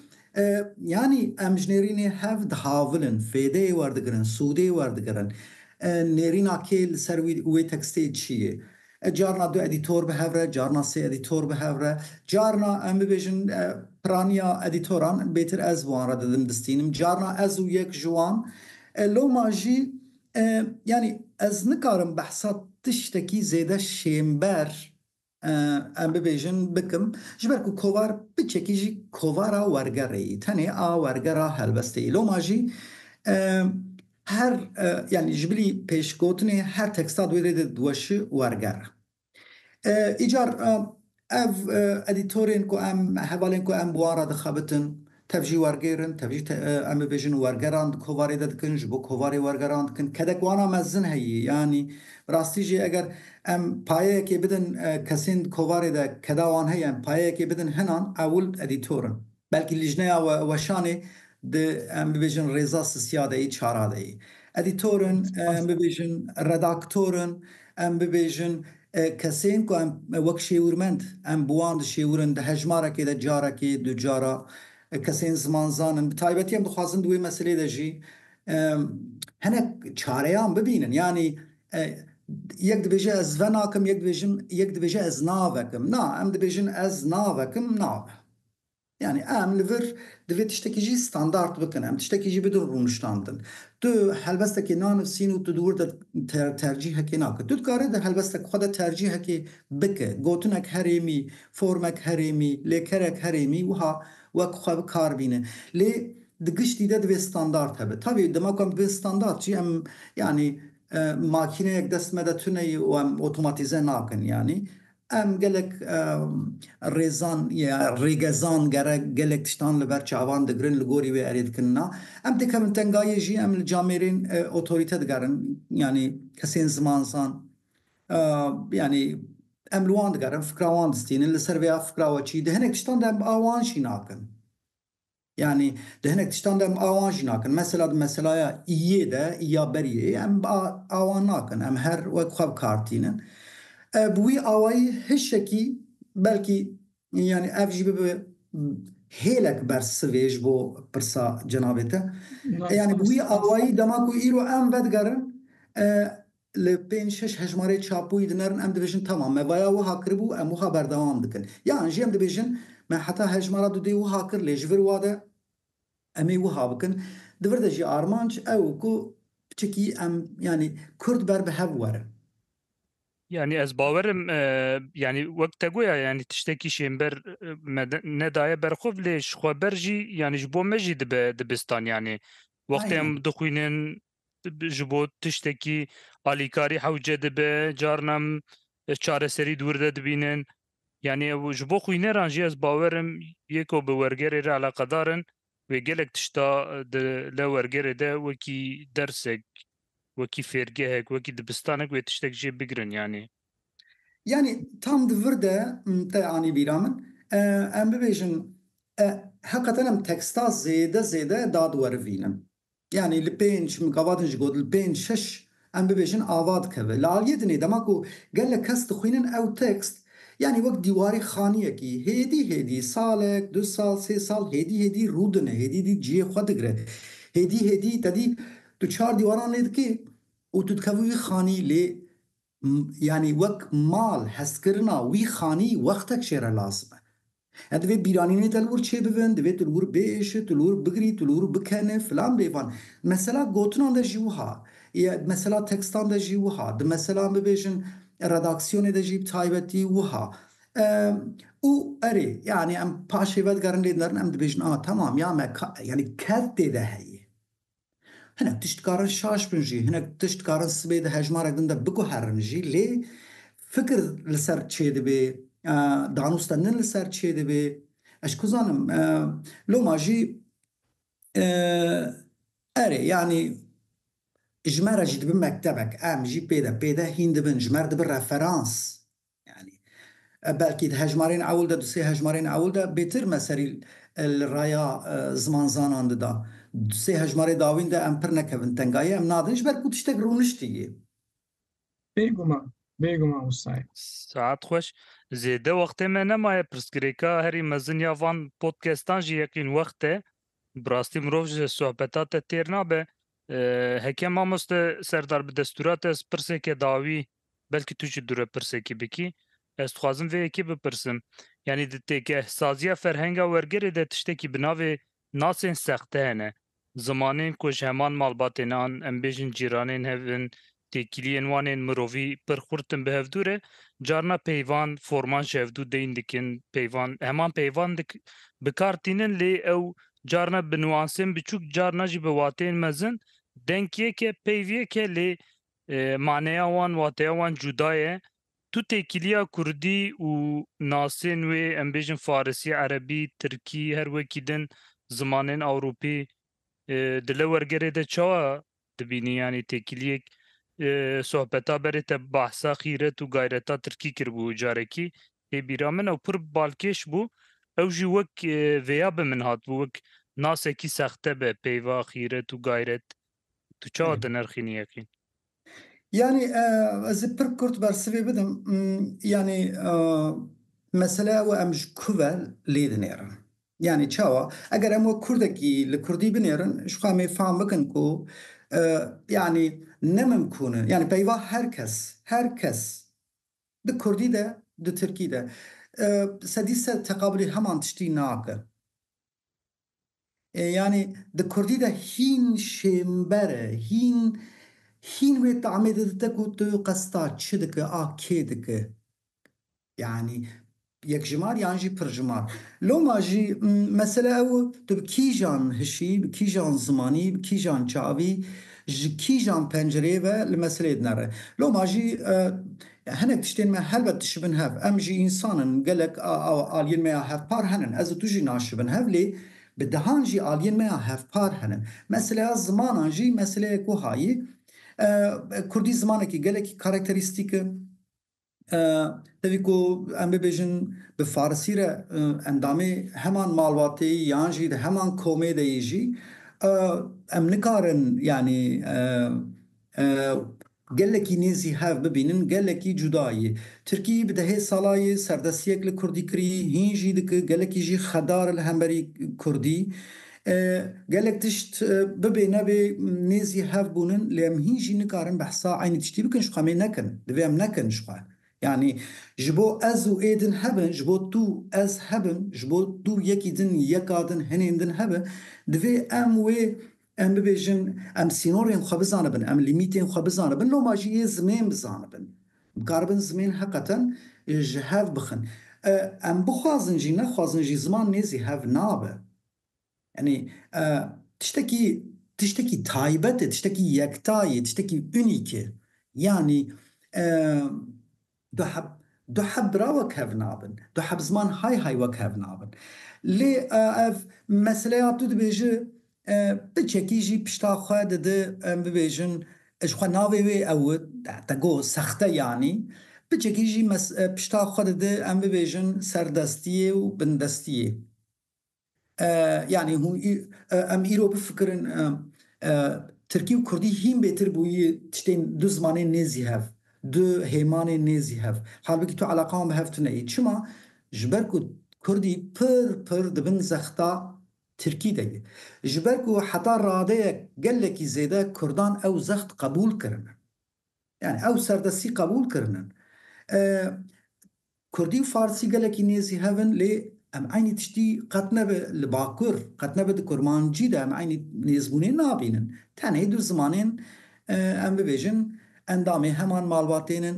yanî em ji nêrînê hev dihavilin, fêdeyê werdigirin, sûdê werdigirin. Nêrîna kê li ser wî wê tekstê çi ye? E carna du edîtor bi hev re, carna sê edîtor bi hev re, carna em bibêjin piraniya edîtoran bêtir ez wan re didim distînim, carna ez û yek ji wan. E loma jî yanî ez nikarim behsa tiştekî zêde şênber em bibêjin bikim, ji ber ku kovar biçekî jî kovara wergerê yî, tenê a wergera helbestê yî. Loma jî. Her yanî ji bilî pêşgotinê her teksta di wê rê de diweşi werger e. Îcar ev edîtorên ku em hevalên ku em bi wan re dixebitin tev jî wergêr in, tev jî em bibêjin wergeran di kovarê de dikin, ji bo kovarê wergeran dikin. Kedek wana mezin heye yanî bi rastî jî eger em payeyekê bidin kesên di kovarê de keda wan heye em payeyekê bidin hinan ewil edîtor in. Belkî lijneya weşanê di em bibêjin rêza sisiya de yî, çara de yî. Edîtorin em bibêjin, redaktorin em bibêjin, kesên ku em wek şêwirmend em bi wan dişêwirin di hejmarekê de carekê, du cara, kesên zimanzan in. Bi taybetî em dixwazin di wê meselê de jî hinek çareyan bibînin. Yanî yek dibêje ez venakim, yek dibêjin, yek dibêje ez navekim. Na, em dibêjin ez navekim, nave. Yanî em li vir divê tiştekî jî standard bikin, em tiştekî jî bidin rûniştandin. Tu helbestekê nanivîsîn û tu di wir de tercîhekê nake. Tu dikarî di helbestek xwe de tercîhekê bike, gotinek herêmî, formek herêmî, lêkerek herêmî wiha wek xwe bi kar bîne. Lê di giştî de divê standard hebe. Tavî dema ku em dibin standard jî em yanî makîneyek dest me de tune ye û em otomatîze nakin yanî. Em gelek rêzan ya rêgezan gerek gelek tiştan li ber çavan digirin li gorî wê erê dikin na. Em dikevin tengayê jî em li camêrên otorîte digerin yanî kesên zimanzan yanî em li wan digerin fikra wan distînin li ser vêya fikra we çî di hinek tiştan de em a wan jî nakin. Yanî di hinek tiştan de em awan jî nakin. Mesela di meselaya iyê de, iya beriyê em awan nakin. Em her wek xwe bi kar tînin. Bi wî awayî hişekî belkî yanî ev jî bibe hêlek bersivê ji bo pirsa cenabê te. Yanî bi wî awayî dema ku îro em vedigerin Li pênc şeş hejmarê çapûyî dinerin em dibêjin tamam me vaya wiha kiribû em wiha berdewam dikin yan jî em dibêjin me heta hejmara du dê wiha kir lê ji vir wa de em ê wiha bikin. Di vir de jî armanc ew in ku piçikî em yanî kurd ber bi hev werin. Yanî ez bawer im yanî wek te goya yanî tiştekî şênber me nedaye ber xwe lê ji xwe ber jî yanî ji bo me jî dibe dibistan yanî wextê em dixwînin ji bo tiştekî alîkarî hewce dibe, carna çareserî dûr de dibînin. Yanî ew ji bo xwîneran jî ez bawer im yê ku bi wergerê re eleqedar in wê gelek tişta di li wergerê de wekî dersek, wekî fêrgehek, wekî dibistanek wê tiştek jê bigirin yanî. Yanî tam di vir de te anî bîra min em bibêjin heqeten em teksta zêde zêde dad werivînin. Yanî li pênc mikavatên ji got li pênc şeş em bibêjin ava dikeve. Li aliyê din ê dema ku gelek kes dixwînin ew tekst yanî wek dîwarê xaniyekî hêdî hêdî salek, du sal, sê sal hêdî hêdî rû dine, hêdî dî ciyê xwe digre. Hêdî hêdî te dî tu çar dîwaran lê dikê û tu dikevî wî xanî lê Yanî wek mal hestkirina wî xanî wextek jê re lazim e. Em divê bîranînê te li wir çêbibin, divê tu li wir biêşî, tu li wir bigirî, tu li wir bikeni filan bêvan. Mesela gotinan de jî wiha ye, di mesela tekstan de jî wiha, di mesela bibêjin redaksiyonê de jî bi taybetî wiha. Û erê, yanî em paşê vedigerin lê din derin em dibêjin a tamam ya me yanî kevtê de heye. Hinek tişt dikarin şaş bin jî, hinek tişt dikarin sibê di hejmarek din de biguherin jî lê fikir li ser çê dibê, danûst te nin li ser çê dibê. Ez ku zanim loma jî erê yanî ji me re jî dibi mektebek, em jî pê de pê de hîn dibin, ji me re dibi referans. Yanî belkî di hejmarên ewil de, du sê hejmarên ewil de bêtir me serî li raya zimanzanan dida. Du sê hejmarê dawîn de em pir nekevin tengayê, em nadin ji ber ku tiştek rûniştî yê. Bêguman, bêguman wisa ye. Saet xweş. Zêde wextê me nemaye. Pirsgirêka herî mezin ya van podcastan jî yeqîn wext e. Bi rastî mirov ji sohbeta te têr nabe. Heke mamoste Serdar bi destûra te ez pirsêke dawî. Belkî tu jî dûre pirsekî bikî. Ez dixwazim vê yekê bipirsim. Yanî di têkehsaziya ferhenga wergerê de tiştekî bi navê nasên sexte hene. Zimanên ku ji heman malbatên an, em bêjin cîranên hev in, têkiliyên wan ên mirovî pir xurt in bi hevdû re. Carna peyvan, forman ji hevdû deyn dikin, peyvan, heman peyvan dik, bi kar tînin lê ew carna bi nuansên biçûk, carna jî bi wateyên mezin, denk yek e, peyv yek e lê Maneya wan, wateya wan cuda ye. Tu têkiliya kurdî û nasên wê, em bêjin farisî, erebî, tirkî, her wekî din zimanên ewropî di lewergerê de çawa dibînî? Yanî têkiliyek sohbeta berê te behsa xîret û gayreta tirkî kiribû carekî ê bîra min ew pir balkêş bû. Ew jî wek vêya bi min hatibû, wek nasekî sexte be peyva xîret û gayret Tu çawa dinirxînî yeqîn? Yanî ez ê pir kurt bersivê bidim. Yanî mesele ew e em ji ku ve lê dinêrin. Yanî çawa? Eger em wek kurdekî li kurdî binêrin ji xwe em ê fam bikin ku yanî ne mimkûn in. Yanî peyva her kes, her kes di kurdî de di tirkî de sedî sed teqabûlî heman tiştî nake. Ê yanî di kurdî de hîn şênber e, hîn hîn wê tamê didite ku tu qes ta çi dike a kê dike. Yanî yekjimar yan jî pirjimar. Loma jî mesela ew e tu bi kîjan hişî, bi kîjan zimanî, bi kîjan çavî, ji kîjan pencereyê ve li meseleyê dinere. Loma jî Hinek tiştên me helbet dişibin hev. Em jî însan in, gelek aliyên me ya hevpar henin. Ez û tu jî naşibin hev lê bi dehan jî aliyên me ya hevpar henin. Meseleya zimanan jî meseleyek wiha ye. Kurdî zimanekî gelekî karakterîstîk e. Tevî ku em bibêjin bi farisî re endamê heman malbateyî yan jî di heman komê de yê jî em nikarin yanî Gelekî nêzî hev bibînin, gelekî cuda yî. Tirkî bi dehê sala yî serdestiyek li kurdî kirî, hîn jî diki, gelekî jî xedar li hemberî kurdî. Gelek tişt bibê nebê nêzî hev bûnin lê em hîn jî nikarin behsa eynî tiştî bikin jixwe em ê nekin. Divê em nekin jixwe. Yanî ji bo ez û ê din hebin, ji bo tu, ez hebin, ji bo tu yekî din, yeka din, hinên din hebin, divê em wê Em bibêjin, em sînorên xwe bizanibin, em lîmîtên xwe bizanibin, loma jî yê zimên bizanibin. Bikaribin zimên heqeten ji hev bixin. Em bixwazin jî nexwazin jî ziman nêzî hev nabe. Yanî tiştekî tiştekî taybet e, tiştekî yekta ye, tiştekî unîk e. Yanî. Du heb, du heb bira wek hev nabin, du heb ziman hay hay wek hev nabin. Lê ev meseleya tu dibêji bi çekî jî pişta xwe didi em bibêjin ji xwe navê wê ew te got sexte yanî bi çekî jî pişta xwe didi em bibêjin serdestiyê û bindestiyê. Yanî hûn em îro bifikirin tirkî û kurdî hîn bêtir bûyî tiştên du zimanên nêzî hev, du hêmanên nêzî hev. Halbikî tu eleqa wan bi hev tuneyî. Çima? Ji ber ku kurdî pir pir di bin zexta tirkî de ye. Ji ber ku heta radeyek gelekî zêde kurdan ew zext qebûl kirine. Yanî ew serdestî qebûl kirine. Kurdî û Farsî gelekî nêzî hev in lê em eynî tiştî qet nebe li Bakur, qet nebe di Kurmancî de em eynî nêzbûnê nabînin. Tenê du zimanên em bibêjin endamê heman malbatên in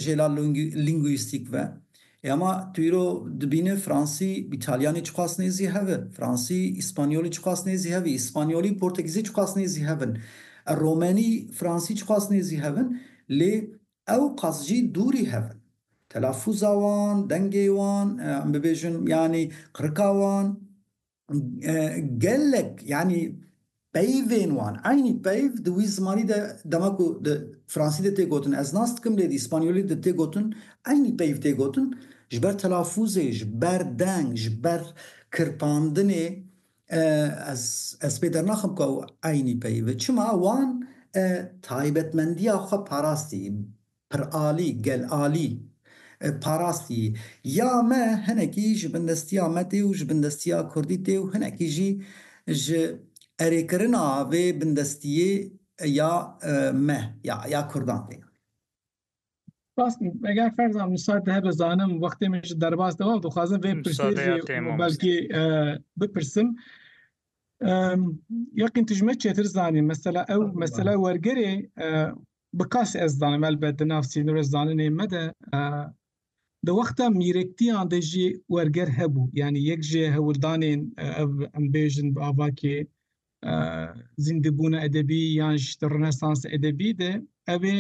jê la lîngwîstîk ve. Ê ama tu îro dibîne Fransî, Îtalyanî çiqas nêzî hev e? Fransî, Îspanyolî çiqas nêzî hev e? Îspanyolî, Portegîzî çiqas nêzî hev in? Romenî, Fransî çiqas nêzî hev in? Lê Ew qas jî dûrî hev in. Telafûza wan, dengê wan, em bibêjin yanî qirika wan gelek yanî peyvên wan, eynî peyv di wî zimanî de dema ku di fransî de tê gotin ez nas dikim lê di îspanyolî de tê gotin eynî peyv tê gotin ji ber telafûzê, ji ber deng, ji ber kirpandinê. Ez pê dernaxim ku ew eynî peyivin. Çima wan taybetmendiya xwe parastî, piralî, gelalî parastî. Ya me hinekî ji bin destiya me tê û ji bin destiya kurdî tê û hinekî jî ji erêkirina vê bindestiyê ya me, ya kurdan tê. Rastî eger ferza misal te hebe zanim wextê min ji derbas de û dixwazim vê pirsêjê belkî bipirsim yaqîn tu ji me çêtir zanî mesela ew mesela wergerê bi kas ez zanim elbet di nav sînorê zaninê me de di wexta mîrektiyan de jî werger hebû yanî yek ji hewirdanên ev em bêjin bi avakê zîndibûna edebî yan ji di Rnesansa edebî de ev ê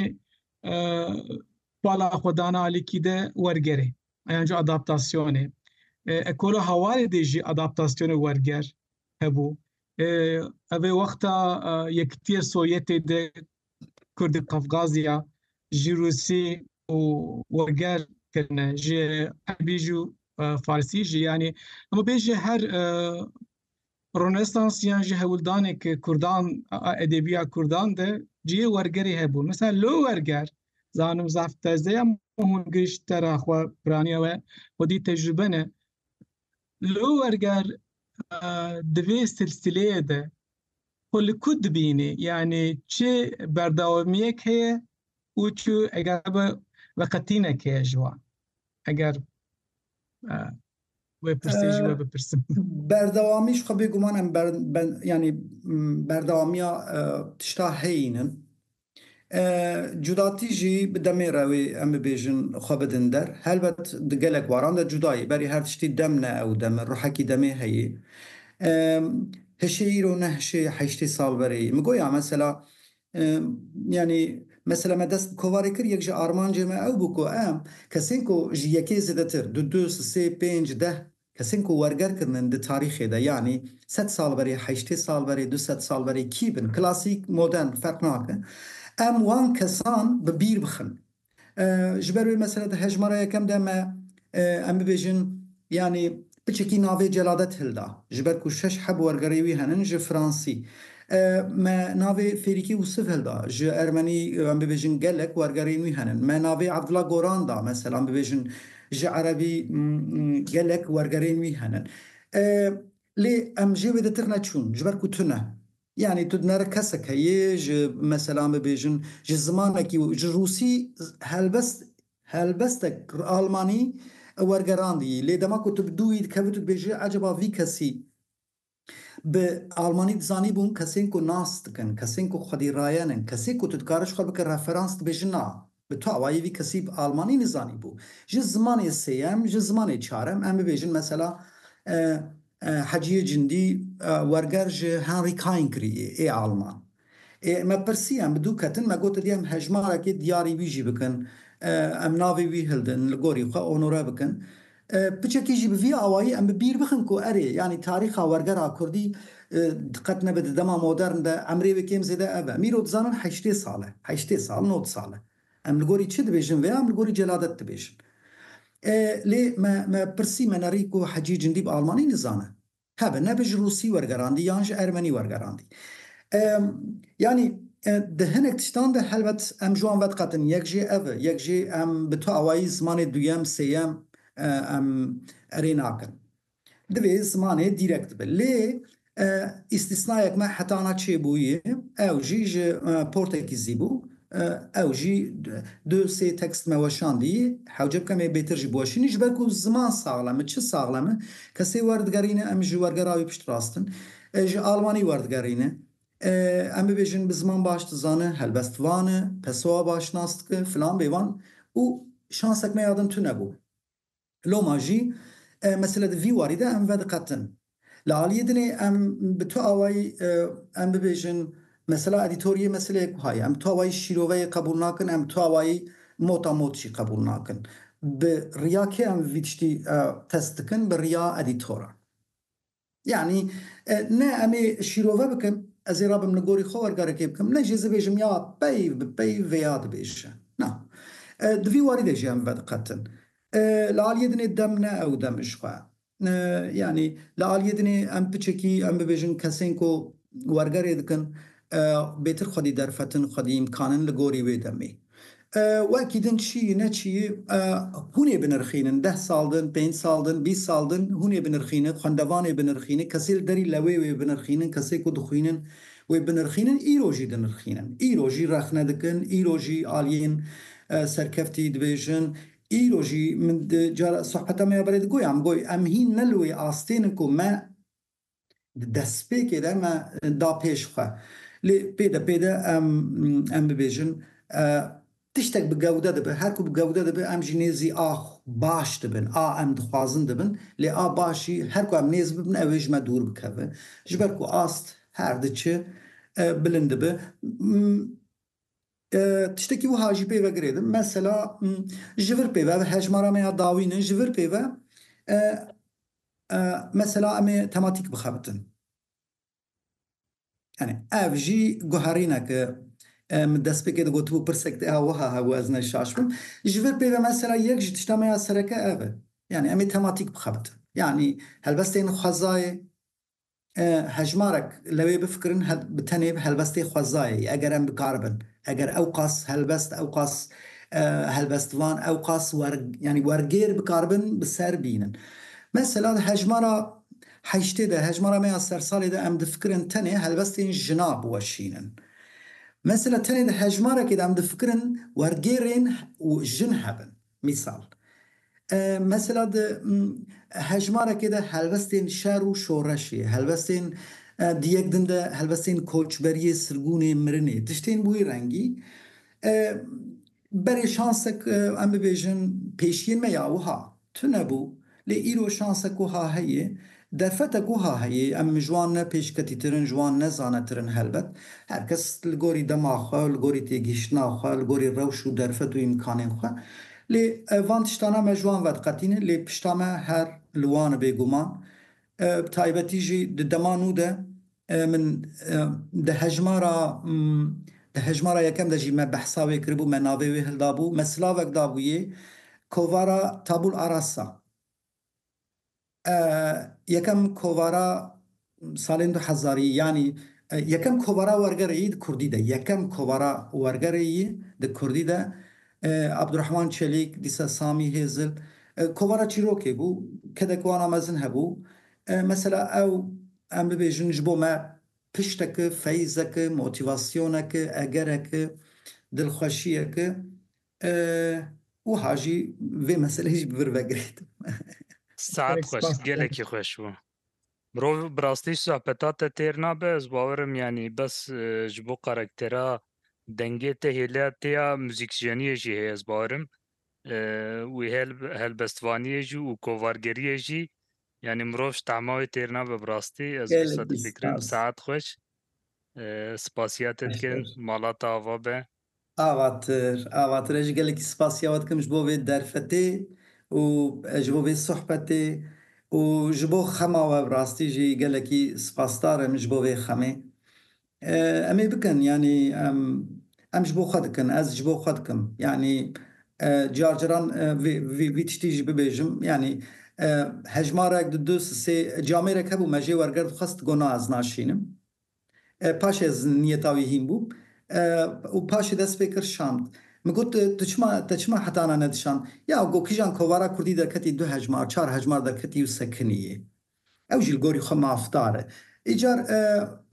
pala xwedana alîkî de wergerê yan jî adaptasyonê. Ekola hawarê de jî adaptasyonê werger hebû. Ev ê wexta Yekitiyê Sovyetê de Kurdê Qafqazya ji Rûsî û werger kirine ji Erbî jî û Farsî jî yanî hemû bê jî her Rûnesansiyan ji hewldanê ke Kurdan a edebîya Kurdan de cihê wergerê hebûn. Misal lo werger zanim zaf tezeya hûn gişt tera xwe piraniya we xwedî tecrube ne. Lo werger divê silsileyê de xwe li ku dibînê yanî çi berdawamiyek heye û çi eger be veqetînek heye ji wan. Eger Wê pirsê jî we bipirsim. Berdewamî ji xwe bêguman em yanî berdewamiya tişta heyîn in. Cudatî jî bi demê re wê em bibêjin xwe bidin der. Helbet di gelek waran de cuda yî berî her tiştî dem ne ew dem e ruhekî demê heyî. Hişê îro ne hişê heştê sal berê yî. Min goya mesela Yanî mesela me dest bi kovarê kir, yek ji armancê me ew bû ku em kesên ku ji yekê zêdetir, du, du, sê, pênc, deh kesên ku werger kirinin di tarîxê de, yanî sed sal berê, heştê sal berê, du sed sal berê kî bin, klasîk, modern ferq nake, em wan kesan bi bîr bixin. Ji ber wê mesela di hejmara yekem de me em bibêjin yanî piçekî navê Celadet hilda. Ji ber ku şeş heb wergerê wî henin ji fransî. Me navê Fêrîkî Wisif hilda. Ji ermenî em bibêjin gelek wergerên wî henin. Me navê Abdullah Goran da mesela em bibêjin ji erebî gelek wergerên wî henin. Lê em jê wê de tirne çûn ji ber ku tune. Yanî tu dinare kesek heye ji meselan bibêjin ji zimanekî û ji rûsî helbest helbestek almanî wergerandiyî lê dema ku tu bi dûyî dikevî tu dibêjî ecaba vî kesî bi almanî dizanîbûn kesên ku nas dikin, kesên ku xwedî rayen in, kesê ku tu dikare ji xwe bike referans dibêjin na. Bi tawayî vî kesî bi almanî nizanîbû. Ji zimanê sêyem, ji zimanê çarem em bibêjin mesela Heciyê Cindî werger ji Henry Kain kirîyê ê alman. Ê me pirsî em bi dû ketin me got edî em hejmarekê diyarî wî jî bikin. Em navê wî hildin li gorî xwe onore bikin. Piçekî jî bi vî awayî em bi bîr bixin ku erê yanî tarîxa wergera kurdî diqet nebe di dema modern de emrê wê kêm zêde ev e. Mîro dizanin heştê sal e, heştê sal, nod sal e. Em li gorî çi dibêjin vêya em li gorî celadet dibêjin. Lê me me pirsî me nerî ku Hecî Cindî bi almanî nizane. Hebe ne bi ji Rûsî wergerandî yan ji Ermenî wergerandî. Yanî di hinek tiştan de helbet em ji wan vediqetin yek jê ev e, yek jê em bi tu awayî zimanê duyem, sêyem em erê nakin. Divê zimanê dîrekt be. Lê îstîsnayek me heta ana çêbûyî ew jî ji Portekîzî bû. Ew jî du sê tekst me weşandî. Hewce bikem ê bêtir jî biweşînî. Ji ber ku ziman saxlem e, çi saxlem e? Kesê werdigerîne em ji wergera wî piştrast in. Ji almanî werdigerîne. Em bibêjin bi ziman baş dizane, helbest van e, Pessoa baş nas dike, filan bêvan û şansek me ya din tune bû. Loma jî mesele di vî warî de em vediqetin. Li aliyê din ê em bi tu awayî em bibêjin mesela edîtoriyê meseleyek wiha ye. Em bi tu awayî şîroveyê qebûl nakin, em bi tu awayî mota mot jî qebûl nakin. Bi riya kê em vî tiştî test dikin? Bi riya edîtoran. Yanî ne em ê şîrove bikin, ez ê rabim li gorî xwe wergarekê bikim, ne jî ez ê bêjim ya peyv bi peyv vê ya dibêje. Na. Di vî warî de jî em vediqetin. Li aliyê din ê dem ne ew dem ji xwe. Yanî li aliyê din ê em piçekî em bibêjin kesên ku wergerê dikin bêtir xwedî derfetin, xwedî îmkanin li gorî wê demê. Wekî din çi yî ne çi yî hûn ê binirxînin. Deh sal din, pênc sal din, bîst sal din hûn ê binirxînin, xwendevan ê binirxînin, kesê li derî lewê wê binirxînin, kesê ku dixwînin wê binirxînin, îro jî dinirxînin. Îro jî rexne dikin, îro jî aliyên serkeftî dibêjin, îro jî min cara sohbeta me ya berê digoya min got em hîn ne li wê astê nin ku me Di destpêkê de me da pêş xwe. Lê pêde pêde em em bibêjin tiştek bi gewde dibe. Her ku bi gewde dibe em jî nêzî a baş dibin. A em dixwazin dibin. Lê a başî her ku em nêz bibin ew ê ji me dûr bikeve. Ji ber ku ast her diçe bilind dibe. Tiştekî wiha jî pê ve girêdin, mesela ji vir pê ve bi hejmara me ya dawîn in, ji vir pê ve mesela em ê tematîk bixebitin. Yanî ev jî guherînek e. Min destpêkê de gotibû pirsek tê ha wiha hebû ez neşaş bim. Ji vir pê ve mesela yek ji tişta me ya sereke ev e. Yanî em ê tematîk bixebitin. Yanî helbestên xwezayê, Hejmarek li wê bifikirin bi tenê helbestê xwezayê ye, eger em bikaribin, eger ewqas helbest, ewqas helbestvan, ewqas yanî wergêr bikaribin bi ser bînin. Mesela di hejmara heştê de, hejmara me ya sersalê de em difikirin tenê helbestên jina biweşînin. Mesela tenê di hejmarekê de em difikirin wergêrên jin hebin. Mîsal, mesela di hejmarekê de helwestên şer û şoreşê, helwestên di yek din de helwestên koçberiyê, sirgûnê, mirinê, tiştên bi wî rengî berê şansek em bibêjin pêşiyên me ya wiha tune bû. Lê îro şanse koha heye, derfete koha heye, em ji wan ne pêşketîtir in, ji wan ne zanetir in helbet. Her kes li gorî dema xwe, li gorî têgihiştina xwe, li gorî rewş û derfet û îmkanên xwe. Lê van tiştana me ji wan vediqetînin, lê pişta me her li wan e bêguman. Bi taybetî jî di dema nû de Min di hejmara di hejmara yekem de jî me behsa wê kiribû, me navê wê hildabû, me silavek dabûyê kovara Tabul Arassa. Yekem kovara salên du hezarî yanî yekem kovara wergerê yî di kurdî de yekem kovara wergerê yî di kurdî de Abdurehman Çelîk, dîsa Samî Hêzil kovara çîrokê bû kedek wana mezin hebû. Mesela ew Em bibêjin ji bo me pişteke, feyzeke, motivasyoneke, egereke, dilxweşiyeke e wiha jî vê meseleyê jî bi vir vegirêdin. Saet xweş, gelekî xweş bû. Mirov bi rastî ji sohbeta te têr nabe, ez bawer im yanî bes ji bo karaktera dengê te hêliya te ya muzîkjeniyê jî heye ez bawer im. Wê helbestvaniyê jî û kovargeriyê jî Yanî mirov ji tehma wê têr nabe bi rastî. Ez Gelekî wisa difikirim. spas. Saet xweş. Eh, Spasiya te dikim. Beşer. Mala te ava be. Avatir, avatir. Ez jî gelekî spasiya we dikim ji bo vê derfetê û eh, ji bo vê sohbetê û ji bo xema we bi rastî jî gelekî spasdar im ji bo vê xemê. Em ê bikin yanî em em ji bo xwe dikin ez ji bo xwe dikim yanî car caran vê vê vî tiştî jî bibêjim yanî hejmarek di du sê camêrek hebû me jê werger dixwest got na ez naşînim paşê ez niyeta wî hîn bû û paşê dest pê kir şand min got tu çima te çima heta na nedişand ya got kîjan kovara kurdî derketî du hejmar çar hejmar derketî û sekinî yê. Ew jî li gorî xwe mafdar e. Îcar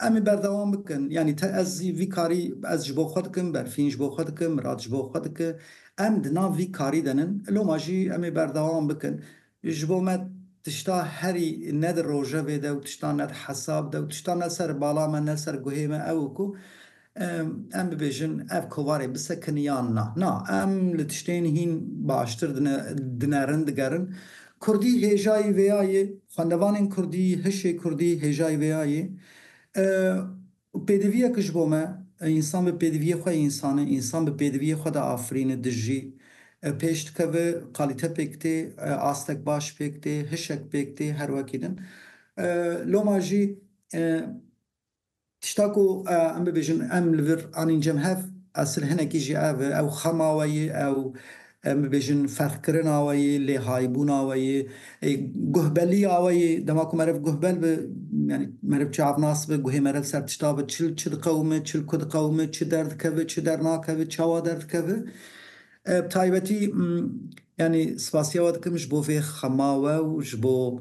em ê berdewam bikin. Yanî te ez zî vî karî ez ji bo xwe dikim, Berfîn ji bo xwe dike, Mirat ji bo xwe dike. Em di nav vî karî de nin. Loma jî em ê berdewam bikin. Ji bo me tişta herî ne di rojevê de û tişta ne di hesab de û tişta ne ser bala me ne ser guhê me ew ku Em bibêjin ev kovarê bisekin yan na? Na, em li tiştên hîn baştir dinerin, digerin. Kurdî hêjayî vê ya yê, xwendevanên kurdî, hişê kurdî hêjayî vê ya yê. Pêdiviyek ji bo me, însan bi pêdiviyê xwe însan e, însan bi pêdiviyê xwe de afirîne, dijî, pêş dikeve, kalîte pêk tê, astek baş pêk tê, hişek pêk tê, her wekî din. Loma jî Tişta ku em bibêjin em li vir anîn cem hev esil hinekî jî ev e, ew xema we yê, ew em bibêjin ferqkirina we yê, lêhaybûna we yê, guhbeliya we yê. Dema ku meriv guhbel bi yanî meriv çavnas bi, guhê meriv ser tişta bi, çil çi diqewime, çil ku diqewime, çi derdikeve, çi dernakeve, çawa derdikeve. Bi taybetî yanî spasiya we dikim ji bo vê xema we û ji bo